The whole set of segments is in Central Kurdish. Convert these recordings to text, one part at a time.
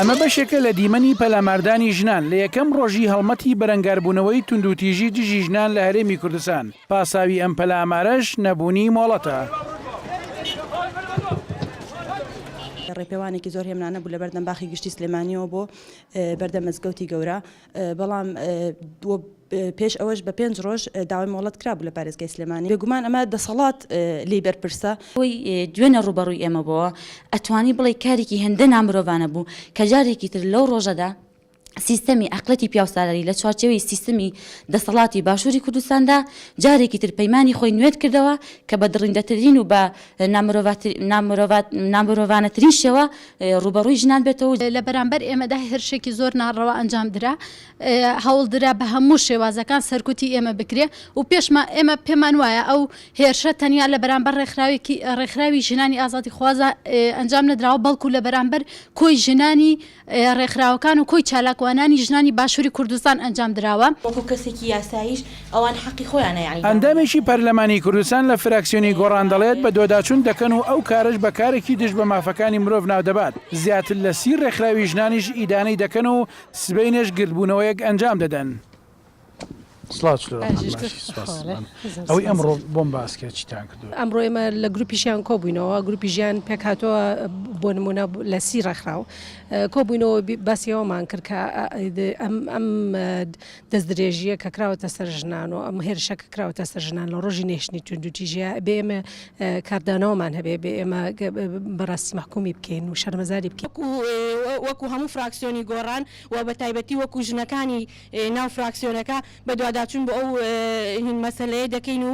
ئەمە بەشێکە لە دیمەنی پەلاماردانی ژنان لە یەکەم ڕۆژی هەڵمەتی بەرەنگاربوونەوەی توندوتیژی دژی ژنان لە هەرێمی کوردستان پاساوی ئەم پەلامارەش نەبوونی مۆڵەتە. ڕێپێوانێکی زۆر هێمنانە بوو لەبەردەم باخی گشتی سلێمانیەوە بۆ بەردەم مزگەوتی گەورە، بەڵام دووە پێش ئەوەش بە پێنج ڕۆژ داوای مۆڵەت کرابوو لە پارێزگای سلێمانی بێگومان ئەمە دەسەڵات لی بەرپرسە ئەوەی دوێنێ ڕووبەڕووی ئێمە بۆوە ئەتوانی بڵێ کارێکی هێندە نامرۆڤانە بوو کە جارێکی تر لەو ڕۆژەدا سیستەمی ئەقلەتی پیاوسالاری لە چوارچێوەی سیستمی دەسەڵاتی باشووری کوردستاندا جارێکی تر پەیمانی خۆی نوێت کردەوە کە بە دڕیندەترین و بە نامرۆڤانەترین شێوە ڕووبەڕووی ژنان بێتەوە و لە بەرامبەر ئێمەدا هێرشێکی زۆر ناڕەوا ئەنجام درا هەوڵدرا بە هەموو شێوازەکان سەرکوتی ئێمە بکرێ و پێشمە ئێمە پێمان وایە ئەو هێرشە تەنیا لە بەرامبەر ڕێکخراوێکی ڕێکخراوی ژنانی ئازادی خوازە ئەنجام نەدراوە بەڵکو لە بەرامبەر کۆی ژنانی ڕێکخراوەکان و کۆی چالاکوانانی ژنانی باشووری کوردستان ئەنجام دراوە وەکو کەسێکی یاساییش ئەوان حەقی خۆیانە یانی داوای یاسایی. ئەندامێکی پەرلەمانی کوردستان لە فراکسیۆنی گۆڕان دەڵێت، بەدواداچوون دەکەن و ئەو کارەش بە کارێکی دژ بە مافەکانی مرۆڤ ناودەبات، زیاتر لە سی رێکخراوی ژنانیش ئیدانەی دەکەن و سبەینێش گردبوونەوەیەک ئەنجام دەدەن. ئەمڕۆ ئێمە لە گروپی ژیان کۆبووینەوە، گروپی ژیان پێکهاتووە بۆ نموونە لە سی رێکخراو کۆبووینەوە باسی ئەوەمان کرد کە ئەم دەستدرێژییە کە کراوەتە سەر ژنان و ئەم هێرشە کە کراوەتە سەر ژنان لە ڕۆژی نێشتنی توندوتیژە بێ ئێمە کاردانەوەمان هەبێ بێ ئێمە بەڕاستی مەحکومی بکەین و شەرمەزاری بکەین وەکو هەموو فراکسیۆنی گۆڕان و بە تایبەتی وەکو ژنەکانی ناو فراکسیۆنەکە بەدواداچوون بۆ ئەو مەسەلەیە دەکەین و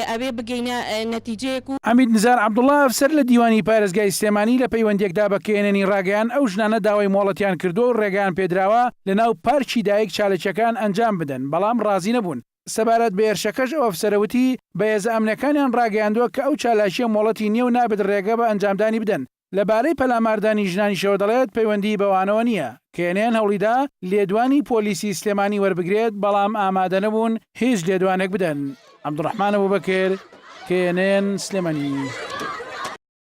ئەبێ بگەینە نەتیجەیەک و. عەمید نزار عەبدوڵا ئەفسەر لە دیوانی پارێزگای سلێمانی لە پەیوەندییەکدا بە کئنن ی ڕاگەیان ئەو ژنانە داوای مۆڵەتیان کردووە و ڕێگەیان پێدراوە لە ناو پارکی دایک چالکییەکان ئەنجام بدەن بەڵام ڕازی نەبوون، سەبارەت بە هێرشەکەش ئەو ئەفسەرە وتی، بە هێزە ئەمنەکانیان ڕاگەیاندووە کە ئەو چالاکییە مۆڵەتی نییە و نابێت ڕێگە بە ئەنجامدانی بدەن، لە بارەی پەلاماردانی ژنانیشەوە دەڵێت، پەیوەندیی بەوانەوە نییە، کێنێن هەوڵیدا لێدوانی پۆلیسی سلێمانی وەربگرێت، بەڵام ئامادەنەبوون هیچ لێدوانێک بدەن. عەبدولڕەحمان ئەبوبەکر، کێنێن سلێمانی.